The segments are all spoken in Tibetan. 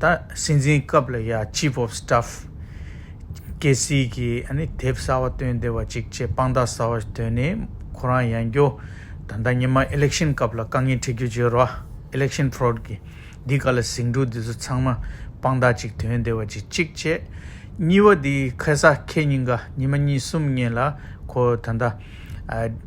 ད་སྲིད་འཛིན་སྐབས་ལ་ཡང Chief of Staff ཀྱི་སྲིད་ཀྱི་དེབ་གསར་བ་བཏོན་བདེ་བ་ཅིག་ཅེས་དཔང་རྟགས་གསར་བ་ཞིག་བཏོན་ནས་ཁོ་རང་ཡང་བསྐྱོ། ད་ལྟ་ཉི་མ Election སྐབས་ལ་དཀའ་ངལ་འཕྲད་རྒྱུ་བརྗོད་རོགས Election Fraud གི་འདི་ག་ལ་ཟིང་འཁྲུག་འདི་ཚོ་ཚང་མ་དཔང་རྟགས་ཅིག་དོན་བདེ་བ་ཅིག་ཅིག་ཅེས། གཉིས་བ་འདི་ཁེ་ས་ཁེ་གཉིས་ཀ་ཉི་མ་གཉིས་གསུམ་གཉིས་ལ་ཁོ་ད་ལྟ།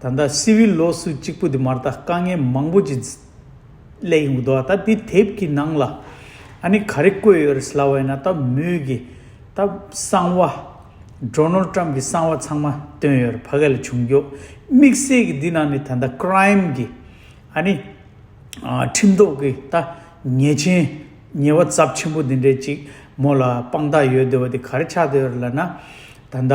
ད་ལྟ་སི་ཝིལ་ལོ་སུ་གཅིག་པུ་དེ་མ་ཏཱ་དཀའ་ངལ་མང་པོ་ཅི་སླད་ཡོང་གི་འདུག་ད་དེ་དེབ་ཀྱི་ནང་ལ་ཨ་ནི་ག་རེ་བཀོད་ཡོད་རེད་སླ་བ་ཡིན་ན་ད་མོས་གི་ད་གསང་བ། Donald Trump གི་གསང་བ་ཚང་མ་བཏོན་ཡོད་རེད་ཕ་ག་ལ་བྱུང་འགྱོག་དམིགས་བསལ་གི་འདི་ནང་ནི་ད་ལྟ Crime གི་ཨ་ནི་ཁྲིམས་ཐོག་གི་ད་ཉེས་ཆེན་ཉེས་བ་ཚབས་ཆེན་པོ་འདི་འདྲའི་ཅིག་མོ་ལ་དཔང་རྟགས་ཡོད་འདོད་བ་དེ་ག་རེ་ཆགས་འདོད་ཡོད་རེད་ལ་ན་ད་ད།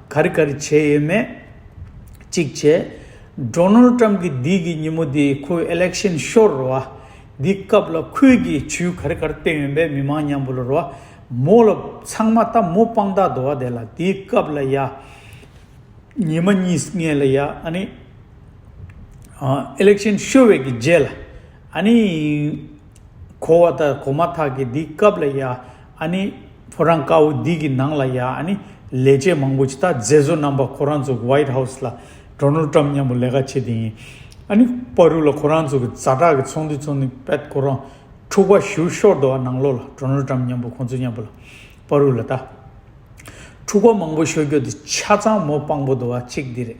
ག་རེ་ག་རེ་བྱས་ཡོད་མེད་གཅིག་བྱས། Donald Trump གི་འདི་གི་ཉིན་མོ་དེ་ཁོའི Election Show རུ་བ། འདི་སྐབས་ལ་ཁོས་ཀྱི་ཇུས་ག་རེ་ག་རེ་བཏོན་ཡོད་མེད་མི་མང་མཉམ་པོ་ལ་རུ་བ། མོ་ལ་ཚང་མ་ད་མོ་དཔང་རྟགས་དུ་བ་དེ་ལ་དེའི་སྐབས་ལ་ཡ། ཉི་མ་གཉིས་ལྔས་ལ་ཡ་ཨ་ནི། Election Show བའི་གི་རྗེས་ལ་ཨ་ནི། གོ་བ་ད་གོ་མ་ཐག་གི་འདི་སྐབས་ལ་ཡ། ཨཱ་ནི། བུ་རང་དཀའ་བོ་འདི་གི་ནང་ལ་ཡ་ཨཱ་ནི། ལས་བྱེད་མང་པོ་ཇི་ལྟར་མཛེས་བཟོ་རྣམ་པ་ཁོ་རང་ཚོ་གི White House ལ་འགྲོ་ནོར་བཀྲམ་སྙམ་པོ་ལས་ཀ་བྱེད་དེ་ཡིན། ཨཱ་ནི། པ་རུ་ལ་ཁོ་རང་ཚོ་གི་རྫ་བྲག་གི་ཚོང་འདུས་ཚོང་འདུས་པད་ཁོ་རང་འཁྲུག་པ་བཞུར་ཤོར་དུ་ཨ་ནང་ལོག་ལ་འགྲོ་ནོར་བཀྲམ་སྙམ་པོ་ཁོང་ཚོ་སྙམ་པོ་ལ། པ་རུ་ལ་ད། འཁྲུག་པ་མང་པོ་ཤོར་རྒྱུ་འདི་ཆ་ཚང་མོ་དཔང་པོ་དུ་བ་གཅིག་འདི་རེད།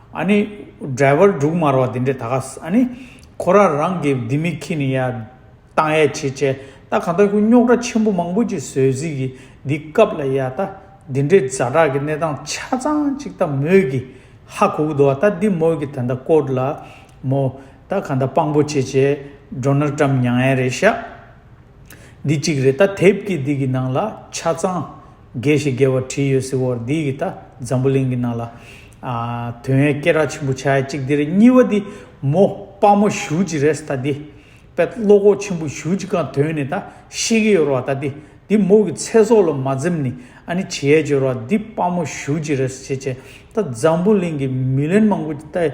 ཨཱ་ནི། སྒྲལ་བར་འབྲུག་དམར་བ་འདི་འདྲས་ད་ག། ཨཱ་ནི། ཁོ་རང་རང་གི་ལྡེ་མིག་གིས་ནི་ཡ། ཏང་ཡ་བྱེད་བྱས་ད་ག་ད་ཁོའི་རྙོག་དྲ་ཆེན་པོ་མང་པོ་ཅིག་བཟོས་བཟོས་ཀྱིས་འདི་སྐབས་ལ་ཡ། ད་འདི་འདྲས་རྫ་དྲག་གི་གནས་སྟངས་ཆ་ཚང་ཅིག་ད་མོས་ཀྱིས་ཧ་གོ་གི་འདུག་ད་འདི་མོས་ཀྱིས་ད་ད་བཀོད་ལ། མོ། ད་ག་ད་དཔང་པོ་བྱེད་བྱས་འགྲོ་ན་བཀྲམ་མྱངས་ཡ་རེད་ཤག། འདི་གཅིག་རེད་ད་དེབ་ཀྱི་འདི་གི་ནང་ལ་ཆ་ཚང། དགེ་ཞེས་རྒྱལ་བ་བྲིས་ཡོད་ཟེར་བར་འདི་ཡིས་ད་འཛམ་བུ་གླིང་གི་ནང་ལ། དོན་ཡོད་སྐད་གྲགས་ཆེན་པོ་ཆགས་ཡ་གཅིག་འདིར་གཉིས་བ་འདི་མོ་དཔའ་མོ་བཞུགས་ཅིག་རེས་ད་འདི། དཔེ་ཀློག་གོག་ཆེན་པོ་བཞུགས་ཅིག་གང་དོན་ནི་ད་ཤེས་ཀྱི་ཡོད་རོགས་ད་འདི། འདི་མོ་གི་ཚེ་སྲོག་ལ་མ་འཛེམས་ནི་ཨ་ནི་བྱེད་ཡ་བྱོས་རོགས་འདི་དཔའ་མོ་བཞུགས་ཅིག་རེས་བྱེད་བྱེད་ད་འཛམ་བུ་གླིང་གི་མི་ལན་མང་པོ་ད།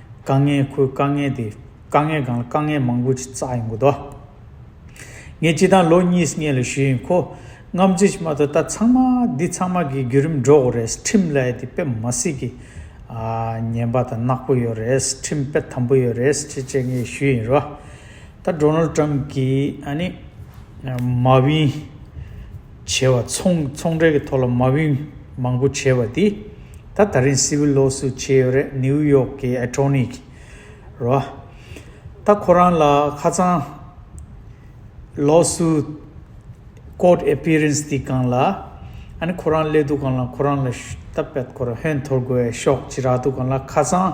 དཀའ་ངལ་ཁོའི་དཀའ་ངལ་དེ་དཀའ་ངལ་གང་ལ་དཀའ་ངལ་མང་པོ་ཞིག་བཙགས་ཡོང་གི་འདུག་ངས་སྤྱི་བཏང་ལོ་གཉིས་ལྔའི་ལས་ཞུས་ཡིན་ཁོ་རྔམ་བརྗིད་ཅིག་མ་གཏོགས་ད་ཚང་མ་འདི་ཚང་མ་གི་བརྒྱུད་རིམ་འགྲོ་འོ་རེད་ཁྲིམས་ལས་དེ་དཔེ་མ་སྲིད་ཀྱི་ཉན་པ་དང་ནག་པོ་ཡོད་རེད་ཁྲིམས་དཔེ་དམ་པོ་ཡོད་རེད་ཅེས་བཅས་ངས་ཞུས་ཡིན་རོ། ད Donald Trump གིས་ཨ་ནི། Marvin། བྱས་བ་ཚོང་ཚོང་འབྲེལ་གྱི་ཐོག་ལ་མ་བུན་མང་པོ་བྱས་པ་དེ་ད་ད་རིང་སི་ཝིལ་ལོ་སུ་བྱས་ཡོད་རེད་ནིའུ་ཡོག་གི་ཨེ་ཏྲོ་ནི་གི་རོ་ད་ཁོ་རང་ལ་ཁ་ཚང་ལོ་སུ་ཀོར་ཨེ་པི་རེན་སི་དེ་གང་ལ་ཨ་ནི་ཁོ་རང་སླེ་དུ་གང་ལ་ཁོ་རང་ལ་ད་བད་ཁོ་ར་བྷོན་འཐོར་དགོས་ཤོག་ཅི་རག་དུ་གང་ལ་ཁ་ཚང།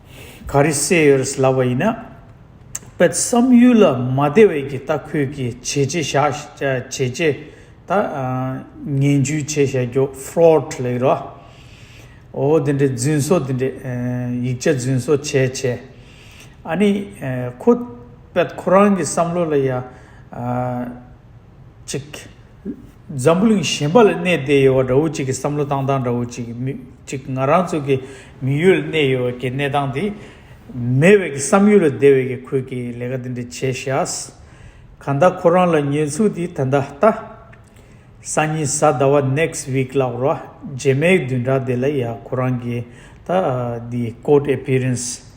ག་རེ་བསད་ཡོད་རེད་ལབ་པ་ཡིན་ན། དཔེ་བསམ་ཡུལ་ལ་མ་བདེ་བས་ཀྱི་ལྟ་ཁུལ་གྱི་བྱས་རྗེས་བཞག་བྱས་རྗེས་ད་ངན་ཇུས་བྱས་བྱས་རྒྱོ fraud ལེགས་རོ། འོ་འདི་འདྲའི་རྫུན་བཟོ་འདི་འདྲའི་ཡིག་ཆ་རྫུན་བཟོ་བྱས་བྱས། ཨ་ནི་ཁོ་པད་ཁོ་རང་གི་བསམ་བློ་ལ་ཡ། ཅིག། འཛམ་བུ་གླིང་གཞན་པ་ལ་གནས་བསྡད་ཡོད་པ་འདྲ་བོ་ཅིག་གི་བསམ་བློ་བཏང་སྟངས་འདྲ་བོ་ཅིག་གིཅིག་ང་རང་ཚོ་གི་མི་ཡུལ་ལ་གནས་ཡོད་ཀྱི་གནས་སྟངས་དེ་མེད་བས་ཀྱི་བསམ་ཡུལ་ལ་བསྡད་བས་ཀྱི་ཁོས་ཀྱི་ལས་ཀ་འདི་འདྲ་བྱས་ཤགས། ག་ད་ཁོ་རང་ལ་ཉེས་འཚུགས་དེ་ད་ད་ལྟ། སང་ཉིན་གཟའ་ཟླ་བ next week ལགས་རོ་རྗེས་མའི་བདུན་ཕྲག་དེ་ལ་ཡ་ཁོ་རང་གི་ད་ད་འདི court appearance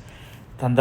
ད་ད།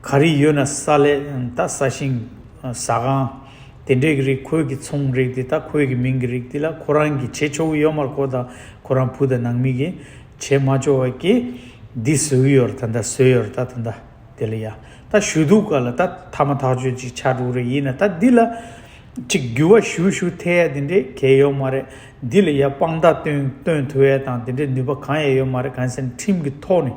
ག་རེ་ཡོད་ན་ས་ལས་ད་ས་ཞིང། ཟ་ཁང། དེ་འདྲས་ཀྱི་རིགས་ཁོལ་གྱི་ཚོང་རིགས་དེ་ད་ཁོལ་གྱི་མིང་གི་རིགས་དེ་ལ་ཁོ་རང་གིས་བྱེད་ཆོག་གི་ཡོད་མར་ཁོ་དང་ཁོ་རང་བུ་དང་ནང་མི་གིས་བྱེད་མ་ཆོག་བ་ཀྱི། འདི་བཟོས་གི་ཡོད་ར་ད་ད་བཟོས་ཡོད་ར་ད་ད་ད་དེ་ལ་ཡ། ད་ཞུ་གཏུག་ག་ལ་ད་ཐ་མ་ཐག་ཆོད་ཅིག་ཆགས་འགྲོ་གི་རེད་ཡིན་ན་ད་འདི་ལ། ཅིག་འགྱུར་བ་ཞུ་ཞུ་ཐལ་ཡ་དེ་འདྲས་གལ་ཡོད་མ་རེད་འདི་ལ་ཡ་དཔང་རྟགས་སྟོན་སྟོན་ཐུ་ཡ་དང་དེ་འདྲས་ནུས་པ་གང་ཡ་ཡོད་མ་རེད་གང་ཟེར་ན་ཁྲིམས་ཀྱི་ཐོག་ནས།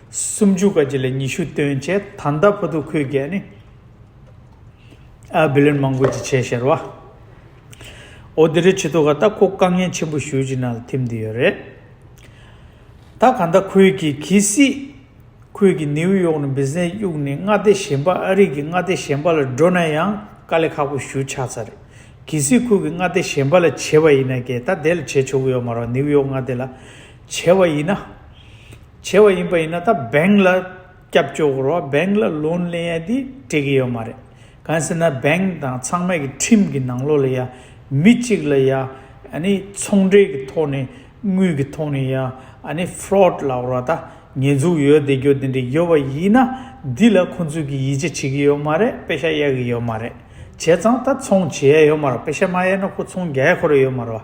སུམ་ཅུ་ཀ་གཅིག་ལས་ཉི་ཤུ་སྟོན་བྱེད་ད་ལྟ་བུ་དུ་ཁོས་བརྒལ་ནས། ཨ་བི་ལན་མང་པོ་ཅི་བྱས་ཤེར་བ། འོ་དེ་རིང་ཆེ་ཐུ་ཁ་ད་ཁོ་དཀའ་ངལ་ཆེན་པོ་ཞུ་ཅི་ན་ལ་ཐིམ་དུ་ཡོད་རེད། ད་ག་ད་ཁོས་ཀྱི་གི་སྲིད། ཁོས་ཀྱི་ནིའུ་ཡོག་ནས་བིས་ནས་གཡུག་ནས་མངའ་སྡེ་གཞན་པ་ཨ་རིག་གི་མངའ་སྡེ་གཞན་པ་ལ་འགྲོ་ན་ཡང་དཀའ་ལས་ཁག་པོ་ཞུ་ཆགས་ཚར་རེད། གི་སྲིད་ཁོས་ཀྱི་མངའ་སྡེ་གཞན་པ་ལ་བྱས་པ་ཡིན་ན་རྒྱལ་ད་དེ་ལ་བྱས་ཆོག་གི་ཡོད་མ་རོག་ནིའུ་ཡོག་མངའ་སྡེ་ལ་བྱས་བ་ཡིན་ན། ཆེ་བ་ཡིན་པ་ཡིན་ན་ད་འབེང་ལ་སྐྱབས་བཅོལ་བོར་བ་འབེང་ལ་ལོན་ལེན་ཡ་དེ་འགྲིག་གི་ཡོད་མ་རེད་གང་ཟེར་ན་འབེང་དང་ཚང་མས་གི་ཁྲིམས་གི་ནང་ལོགས་ལ་ཡ་མི་གཅིག་ལ་ཡ་ནི་ཚོང་འབྲེལ་གི་ཐོག་ནས་དངུལ་གི་ཐོག་ནས་ཡ་ནི fraud ལ་བོར་བ་ད་ཉེས་འཛུགས་ཡོད་བསྡད་རྒྱུ་དེ་འདྲ་ཡོད་པ་ཡིན་ན་དེ་ལ་ཁོང་ཚོས་གི་ཡིད་ཆེ་བྱེད་གི་ཡོད་མ་རེད་པེ་ཤ་ཡ་གི་ཡོད་མ་རེད་བྱས་ཙང་ད་ཚོང་བྱེད་ཡ་ཡོད་མ་རེད་པེ་ཤ་མ་ཡ་ན་ཁོ་ཚོང་རྒྱ་ཡ་ཁོ་རེ་ཡོད་མ་རེད་བ་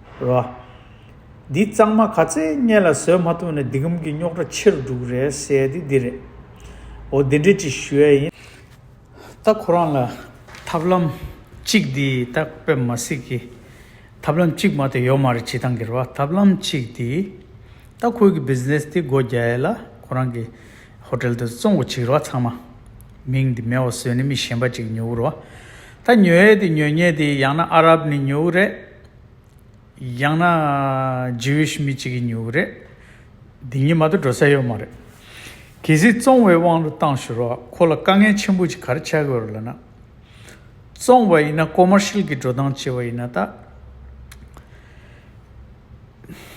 ར། འདི་གཙང་མ་ག་ཚད་གཉན་ལ་བཟོད་མ་ཐུབ་ན་འདི་གམ་གྱི་རྙོག་དྲ་ཆེ་རུ་འགྲོ་གི་རེད་ཟེར་དེ་འདི་རེད། འོ་འདི་འདྲས་ཅིག་ཞུ་ཡ་ཡིན། ད་ཁོ་རང་ལ་ཐབས་ལམ་གཅིག་འདི་ད་བེད་མ་སྲིད་གི། ཐབས་ལམ་གཅིག་མ་ཏོ་ཡོད་མ་རེད་བྱེད་སྟངས་གི་རེད་བ་ཐབས་ལམ་གཅིག་འདི། ད་ཁོས་གི Business འདི་སྒོ་རྒྱ་ཡས་ལ་ཁོ་རང་གི Hotel དུ་བཙོང་གི་བྱེད་གི་རེད་བ་ཚང་མ། མིང་འདི་མེད་བ་བཟོས་ནས་མི་གཞན་པ་ཅིག་ཉོ་གི་རེད་བ། ད་ཉོ་ཡས་དེ་ཉོ་ཉེས་དེ་ཡང་ན་ཨ་རབ་ནས་ཉོ་གི་རེད། ཡང་ན Jewish མི་གཅིག་གིས་ཉོས་པ་རེད། འདི་གཉིས་མ་ཏོ་འགྲོ་ས་ཡོད་མ་རེད། གལ་སྲིད་བཙོང་བའི་དབང་དུ་བཏང་ཞུ་རོགས་ཁོ་ལ་དཀའ་ངལ་ཆེན་པོ་ཅིག་གར་ཆགས་ཀྱི་རེད་ལབ་ན། བཙོང་བ་ཡིན་ན Commercial གྱི་འགྲོ་སྟངས་བྱེད་པ་ཡིན་ན་ད།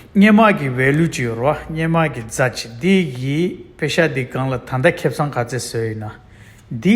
སྙན་དམག་གི Value ཅིག་ཡོད་རོགས་སྙན་དམག་གི་རྫ་ཅིག་འདི་ཡི་དཔེ་ཤ་འདི་སྒང་ལ་ད་ལྟ་ཁེབས་ཚང་ག་ཚད་བཟོས་ཡོད་ན། འདི།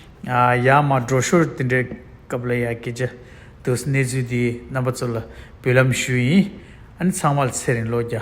ཡ་མ་འགྲོ་ཞོར་དེ་འདྲའི་སྐབས་ལ་ཡ་སྐད་ཆ་དུ་གནས་ཚུལ་འདི་རྣམ་པ་ཚོ་ལ་འབུལ་ལམ་ཞུ་ཡིན་ཨ་ནི་ཚང་མར་ཚེ་རིང་བློ་རྒྱ།